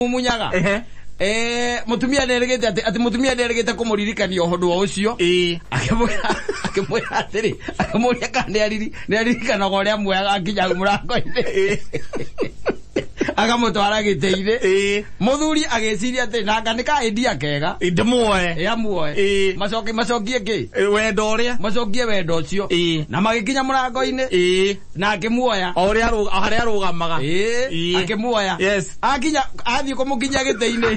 mumunyaga Ehe. eh mutumia nderegete ati ati mutumia nderegete kumuririkania uhundu wa ucio Ĩĩ. akimwira akimwira atiri akimwira kana ni ariri ni aririkana uria mwega akinya murango-ini akamutwara gitei-ini Ĩĩ. muthuri agiciria ati nanga ni ka endia kega Ĩ, ndĩmuoe ya muoe Ĩĩ. macoki macokie ki Ĩ, wendo ũrĩa macokie wendo ucio Ĩĩ. na magikinya murango-ini Ĩĩ. na akĩmuoya o ũrĩa arũ- o harĩa arũgamaga Ĩĩ, Ĩĩ. akĩmuoya Yes. akinya athiĩ kũmũkinyia gĩtĩ-inĩ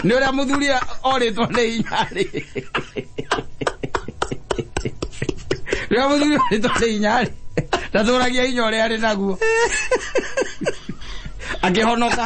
nĩ ũrĩa mũthuri orĩtwo nĩ inyarĩ rĩrĩa mũthuri orĩtwo nĩ inyarĩ ndatũragia inya ũrĩa arĩ naguo akĩhonoka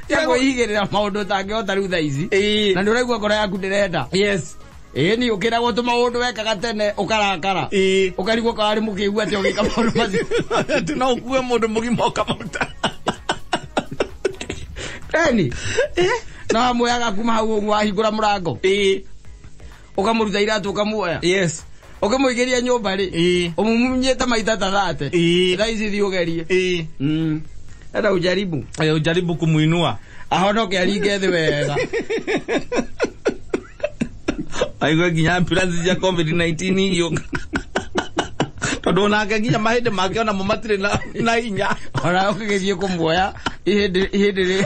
tegwĩigĩrĩra maũndũ ũtangĩhota rĩu thaa ici Ĩĩ. na nĩ ũraigua ngoro yaku ndĩrenda yes ĩĩ nĩ ũkĩragwo tũ maũndũ wekaga tene ũkarakara Ĩĩ. ũkarigwo kararĩ mũkĩigua atĩ ũgĩka maũndũ macio Ati no ukue mundu mugima ukamaruta eni no amuoyaga kuma hau ũguo ahingũra mũrango Ĩĩ. ukamuruta iratu ukamuoya yes ukimuigiria nyumba ri Ĩĩ. umumunyite maita ta thate Ĩĩ. thaa ici thi ugerie eh Mm. enda ujaribu eh, ujaribu kumuinua ahonoke aringe thi wega aigwe nginya ambulance cia covid 19 iyo tondå onake nginya mahä ndä make onamo matirä na na hinya ona ukigithie kumuoya ihindi ihindi ri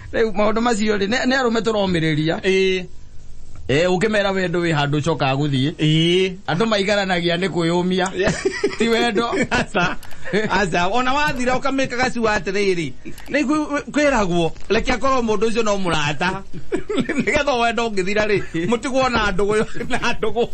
rä u maå ndå macio rä nä arå me tå romä rä ria ĩĩ å kä mera wendo wä handå å cokaga gå thiä ĩĩ andå maigaranagia nä kwä å mia ti wendo aca aca ona wathira ũkamĩka gacua atĩrĩrĩ nĩguo kwĩragwo reke korwo mũndũ ũcio no mũrata nĩgetha wenda ũngĩthira rĩ mũtigwo na ndũgũ na ndũgũ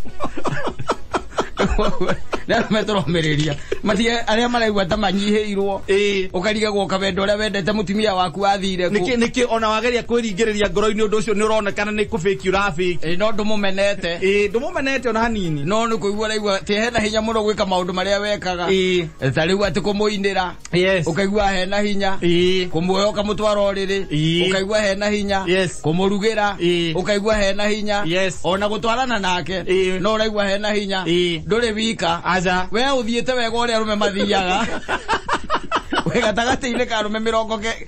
na metoromereria matige aria maraigua ta manyihirwo Eh. ukarigagwo kawendo uria wendete mutumia waku athire kũ. niki niki ona wageria kwiringiriria ngoro-ini undu ucio ni uronekana ni kubiki urabiki Eh, no ndumumenete eh ndumumenete ona hanini no nä kå igua raigua tä hena hinya må no gwä ka maå ndå marä a wekaga Eh. ta rä u atä kå må inä ra Yes. ukaigua hena hinya Ii. kumuoya ukamutwara uriri Ii. ukaigua hena hinya Yes. kumurugira Ii. ukaigua hena hinya Yes. ona gutwarana nake Ii. no uraigua hena hinya Ii. nduri wika Aja. we uthiite wega uria arume mathiaga we gatagati-inĩ ka arume mĩrongo ke-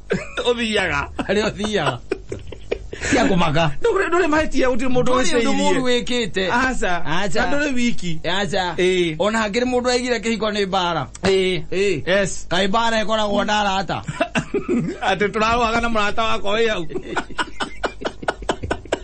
ũthiaga harĩa ũthiaga cia kũmaka Ndũrĩ- ndũrĩ mahĩtia gũtirĩ mũndũ ndũrĩ ũndũ mũru ũcĩirie wĩkĩte aca Aca. na ndũrĩ wiki aca Ĩĩ. ona hakĩrĩ mũndũ aigire kĩhiko nĩ mbara Ĩĩ. Ĩĩ. yes kaĩ mbara ĩkoragwo na arata atĩ tũrarũaga na mũrata wakwa wĩ hau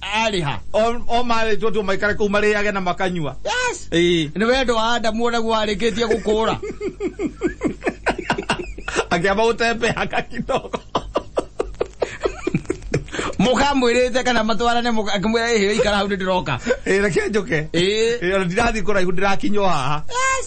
arĩha O- o marĩtwo tu maikare kũu marĩage na makanyua yes Ĩĩ. nĩ wendo wa adamu ũrĩa warĩkĩtie gũkũra akĩamba gũtembeaga kidogo mũkamwĩrĩte kana matwarane mũka- akĩmwĩra ĩhĩo ikara hau nĩ ndĩroka Ĩĩ, reke njoke Ĩĩ. Ĩĩ, ona ndirathi kũraihu ndĩrakinywo haha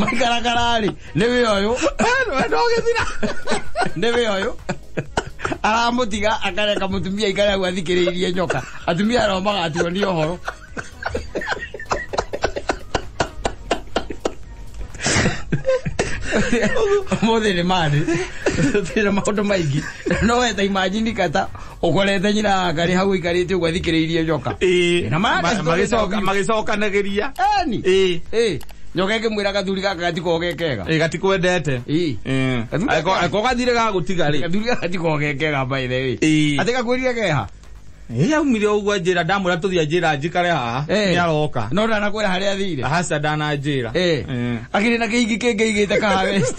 maikarakara-rĩ nĩ wĩ ũyũ ndogĩthira nĩ wĩ ũyũ aramũtiga akareka mũtumia aikare hau athikĩrĩirie nyoka atumia arao magatuo nĩ ũhoro ũmũthĩ nĩ marĩ twĩna maũndũ maingĩ no weta imanjini kata ukorete nyina ngari hau ikarite uguo athikiriirie njoka Ĩĩ, Na ma- ma- magĩcoka- magĩcokanagĩria Eni. Ĩĩ. Ĩĩ. nyoka ikimwira gathuri gaka gatikogekega Ĩĩ, gatikwendete Ĩĩ. Ĩĩ. Gathuri Angĩkorwo- gaka- angĩkorwo gathire gagũtiga rĩ gathuri gaka gatikogekega by the way Ĩĩ. ati gakwirire keha ĩrĩa aumire ũguo njĩra ndamwĩra tũthiĩ anjĩra njikare haha Ĩĩ. nĩ aroka no ndanakwira haria athire haca ndananjĩra Ĩĩ. akiri na kiingi kingi igite kaha west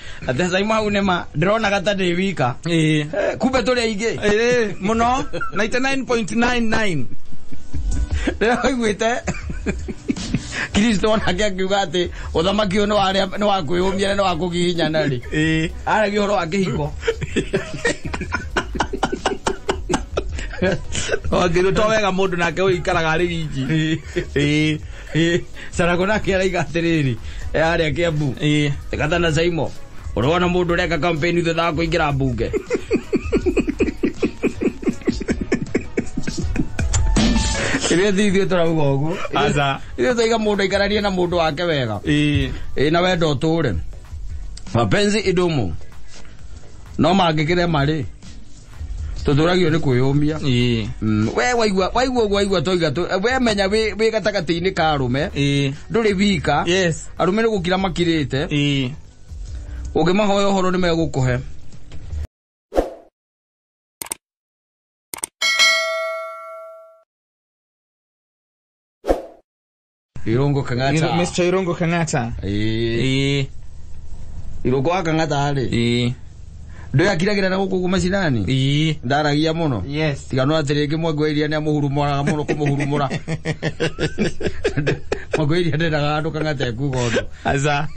Athecai mau nĩ ma ndĩronaga ta ndĩ wika Ĩĩ. Eh, kumbe tũrĩ aingĩ Ĩĩ, mũno 99.99 rĩrĩa waiguĩte kristo onake akiuga atĩ ũthamaki ũyũ nĩ wa arĩa- nĩ wa kwĩyũmia na nĩ wa kũgiginyana rĩ Ĩĩ. aragia ũhoro wa kĩhiko wangĩrutwo wega mũndũ nake ũikaraga arĩ wiki Ĩĩ. Ĩ, Sarago nake araiga atĩrĩrĩ eh, arĩa Kiambu Ĩ, tigata na Saimo ũrona mũndũ ũreka kampeni thutha wa kũingĩra mbunge rĩrĩa thi ithuĩ tũrauga ũguo Aca. ithuĩ twaiga mũndũ aikaranie na mũndũ wake wega ĩ, ĩ na wenda ũtũre mapenzi idumu no mangĩkĩre marĩ tuturagiyo ni kwiyumia ii Mm, we waigua waigua ũguo waigua toiga tu we menya wĩ wĩ gatagatĩ-inĩ ka arũme ii ndũrĩ wika yes arũme nĩ gũkira makirĩte ii ũngĩmahoya ũhoro nĩ megũkũhe Irongo Kangata. Mr. Irongo Kangata. Eh. Eh, Irongo wa Kangata rĩ. eh, Ndũ yakiragĩra na gũkũ kumacinani. eh. Ndaragia mũno. Yes. Tiga no atĩ rĩngĩ mwangwĩria nĩ amũhurumũraga mũno kũmũhurumũra. Mwangwĩria ndendaga andũ Kangata ekuga ũndũ. Aza.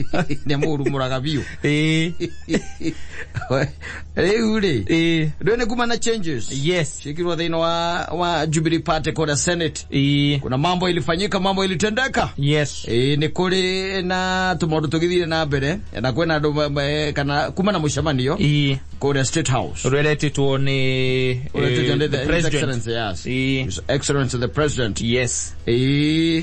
Nĩ amũhurumũraga biũ. Eh, Rĩu rĩ. eh. Ndũ nĩ kuma na changes. Yes. Ciĩkirwo thĩinĩ wa wa Jubilee Party kũrĩa Senate. Ii. kuna mambo ilifanyika mambo ilitendeka Yes. Ĩ, nĩ kũrĩ na tũmaũndũ tũgĩthire na mbere na kwĩna andũ ma- ma- kana kuma na mũcemanio Ii. kũrĩa state house Rweretitwo ni eh, Ũretĩtwo nĩ the the His president. Excellency, yes. Ii. His Excellency the president Yes. Ĩ,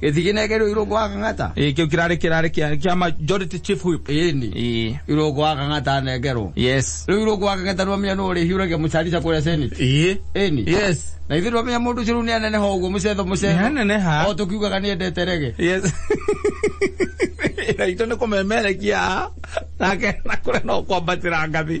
gĩtiginegĩrwo irũngũ wa kang'ata ĩ kĩu kĩrarĩ kĩrarĩ kĩa kĩa majority chief whip ĩni ĩ irũngũ wa kang'ata nengerwo yes rĩu irũngũ wa kang'ata nĩwamenya nũ ũrĩhiũragia mũcarica kũrĩa senate ĩ ĩni yes na ithuĩ twamenya mũndũ ũcio rĩu nĩ aneneha ũguo mũcetho nĩ mũcetho haneneha o tũkiugaga nĩ endete rege yes na itũ nĩ kũmemerekia nake na kũrĩa no kwambatĩra ngathĩ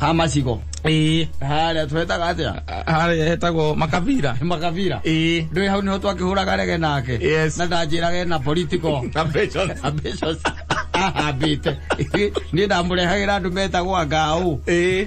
ha macigo ĩĩ harĩa twetaga atĩa harĩa hetagwo makabira makabira ĩĩ ndwĩ hau nĩho twakĩhũraga rege nake Yes. na ndanjĩraga ena political Ambitions. ambitions ahambĩte niĩ ndamũrehagĩra andũ metagwo angaũ ĩĩ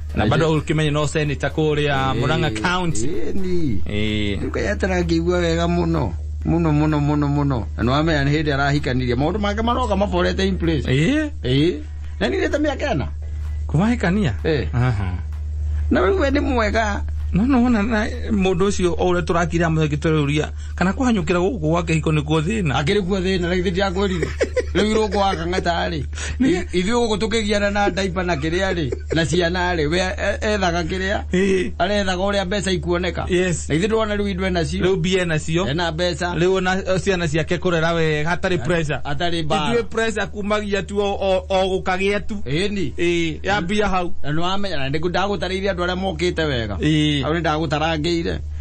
na bado ukimenye no seneta kuria muranga county Ĩni. eh Rĩu kaĩ atarangĩigua wega mũno mũno mũno mũno mũno na nĩwamenya nĩ hĩndĩ arahikanirie maũndũ make maroka maborete in place eh Ĩĩ. na nirĩte mĩaka ĩna kumahikania Eh. aha na rĩu we nĩ mwega no no wona na- mũndũ ũcio o ũrĩa tũrakira mũthaki tũrũria kana kũhanyũkĩra gũkũ gwa kĩhiko nĩkuo thĩna akĩrĩ kuo thĩna rĩu ndĩakwĩrire rĩu irũngũ wa kang'ata rĩ Nĩ- ithuĩ gũkũ tũkĩgiana na ndaipa na kĩrĩa rĩ na ciana rĩ we e- ethaga kĩrĩa Ĩĩ. arethaga ũrĩa mbeca ikuoneka Yes. na ithuĩ ndĩrona rĩu indwe nacio rĩu mbia nacio ena mbeca rĩu ona o, ciana ciake kũrera wega hatarĩ pressure atarĩ mbara ithuĩ pressure kumagia tu o- o o gũkagĩa tu ĩni ĩĩ ya mbia hau na nĩwamenya na ndagũtarĩire andũ arĩa mokĩte wega Ĩĩ. au nĩ ndagũtarangĩire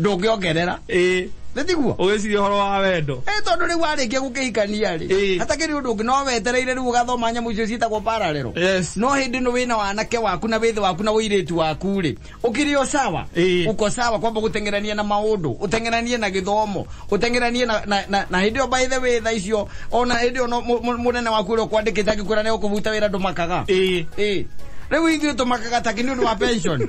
ndũngĩongerera ĩĩ nĩ tiguo ũgĩciria ũhoro wa wendo ĩ tondũ rĩu warĩkia gũkĩhikania rĩ Ĩĩ. hatakĩrĩ ũndũ ũngĩ no wetereire rĩu ũgathoma nyamũ icio ciĩtagwo pararero yes no hĩndĩ ĩno wĩna wanake waku na wĩthĩ waku na wĩirĩtu waku rĩ ũkĩrĩ o sawa Ĩĩ. uko sawa kwamba gũteng'erania na maũndũ ũteng'eranie na gĩthomo ũteng'eranie na, na, na, na hĩndĩ ĩyo by the way tha icio ona hĩndĩ ĩyo no- mũ- mũ- mũnene waku ũrĩa ũkwandĩkĩte angĩkwĩra nĩ ũkũbuta wĩra ndũmakaga ĩĩ Ĩĩ. rĩu ithuĩ tũmakaga takĩ nĩ ũndũ wa pension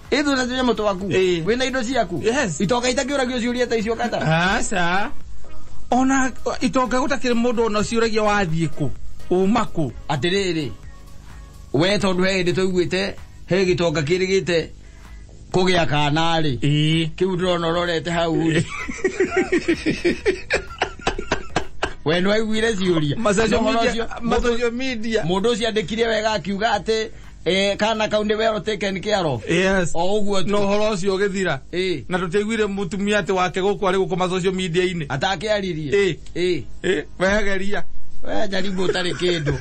Ithu na tunya mutu waku. Eh. Wina indo ciaku. Yes. Itoka itakiuragio ciuria ta icio kata. aca ona itonga gå takä rä må ndå ona å ciåragia wathiä kå uma kå atiriri we tondu he hindi tuiguite he gitonga kirigite kugia kana ri ä kiu ndirona urorete hau ri we nwaiguire ciuria Ũhoro ũcio- mũndũ- mundu ucio andikire wega akiuga ati Eh, kana kau nĩ wero taken care of yes o ũguo tu. na ũhoro ũcio ũgĩthira Eh. na tũtiaiguire mũtumia atĩ wake gũkũ arĩ gũkoma social media-inĩ atakĩaririe Eh. Eh. Eh, wehegeria we jaribu ũtarĩ kĩndũ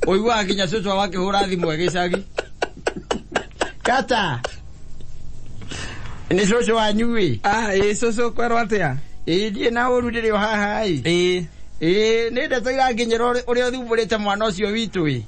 ũiguaga nginya cũcwa wakĩhũra thimũ ĩgĩcagi kata nĩ cũcũ wanyu ĩ ah ĩ cũcũ kwerwo atĩa ĩ ndiĩ na ũru ndĩrĩ o haha ĩ ĩ ĩ nĩ ndeto iranginyĩra ũrĩ- ũrĩa ũthumbũrĩte mwana ũcio witũ ĩ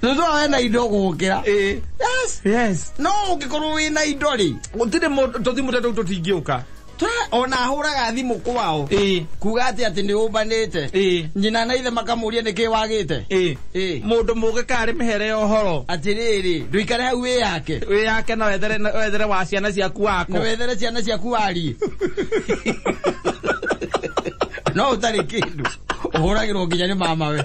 Thuthu awe na indo gukira. Eh. Yes. Yes. No ungikorwo wi na indo ri. Gutire tuthi mutatu tutingiuka. ona huraga thimu kwao kuga ati ati ni umbanite nyina na ithe makamuria niki wagite mundu muge kari mihere ohoro atiriri nduikare hau wi yake wi yake na wethere wethere wa ciana ciaku wako na wethere ciana ciaku wari no utari kindu uhuragirwo nginya ni mama we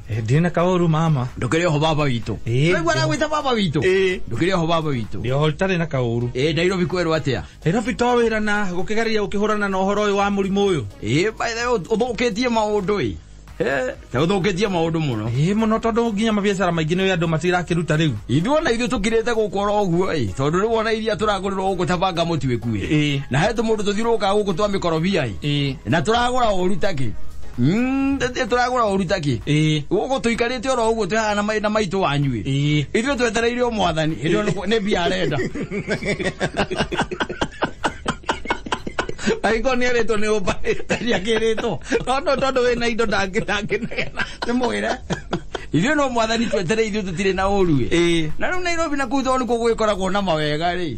Eh, ndirĩ na kaũru mama ndũkĩrĩ oho baba witũ Ĩĩ. Nĩguo aragwĩta baba witũ Ĩĩ. ndũkĩrĩ oho baba witũ ndĩho itarĩ na kaũru Ĩĩ, nairobi kwerwo atĩa nairobi to wĩra na gũkĩgeria gũkĩhũrana na ũhoro ũyũ wa mũrimũ ũyũ Ĩĩ, by the way, ũthũkĩtie maũndũ ĩ Eh, ta ũthũkĩtie maũndũ mũno ĩĩ mũno tondũ nginya mabiacara maingĩ nĩ andũ matirakĩruta rĩu ithuona ithuĩ tũkirĩte gũkũ oro ũguo ĩ tondũ rĩu ona iria tũragũrĩrwo gũkũ ta banga mũtuĩku ĩ Ĩĩ. na he tũmũndũ tũthiũrũrũkaga gũkũ twa mĩkorobia ĩ ĩĩ na tũragũra ũru takĩ Mm, ĩ- ĩ- tũragũra ũru takĩ ĩĩ gũkũ tũikarĩte oro ũguo twĩhana na mai- na maitũ wanyuĩ ĩĩ ithuĩ twetereire o mwathani hĩndĩ ĩyo nĩ- nĩ mbia arenda agĩkorwo nĩ erĩtwo nĩ ũmba ndiakĩrĩtwo tondũ tondũ wĩ na indo ndangĩ ndangĩnegena nĩ mwĩre ithuĩ no mwathani twetereire ithuĩ tũtirĩ na ũru ĩ ĩĩ na rĩu nairobi na kuu tondũ nĩkuo gũgĩkoragwo na mawega rĩ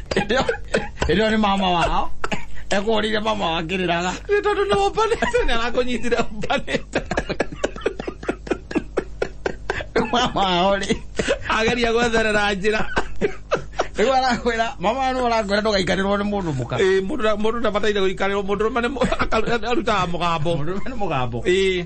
ĩno nĩ mama wao ekũhũrĩire mama wa ngĩrĩraga nĩ tondũ nĩ ũmbanĩte nĩ arakũnyitire ũmbanĩte mama wao rĩ ageria gwetherera njĩra rĩu arakwĩra mama wao nĩ ũrakwĩra ndũgaikarĩrwo nĩ mũndũ mũka Ĩĩ, mũndũ na- mũndũ ndabataire gũikarĩrwo mũndũ rũme arutaga mũgambo mũndũ nĩ mũgambo Ĩĩ.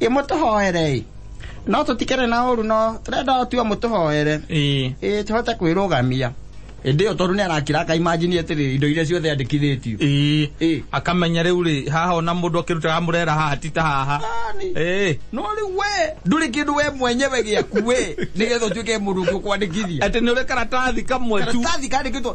ĩ mũtũhoere ĩ no tũtikĩrĩ na ũru no tũrenda o tu o mũtũhoere ĩĩ ĩ tũhote kwĩrũgamia ĩndĩ ĩyo tondũ nĩ arakira akaimajini atĩrĩ indo iria ciothe andĩkithĩtio ĩĩ ĩĩ akamenya rĩu rĩ haha ona mũndũ akĩrutaga mũrera haha ti ta haha Yaani, ĩĩ no rĩu we ndũrĩ kĩndũ we mwenyewe gĩaku we nĩgetha ũtuĩke mũndũ ũngĩ ũkwandĩkithia atĩ nĩ ũrĩ karatathi kamwe tu karatathi kandĩkĩtwo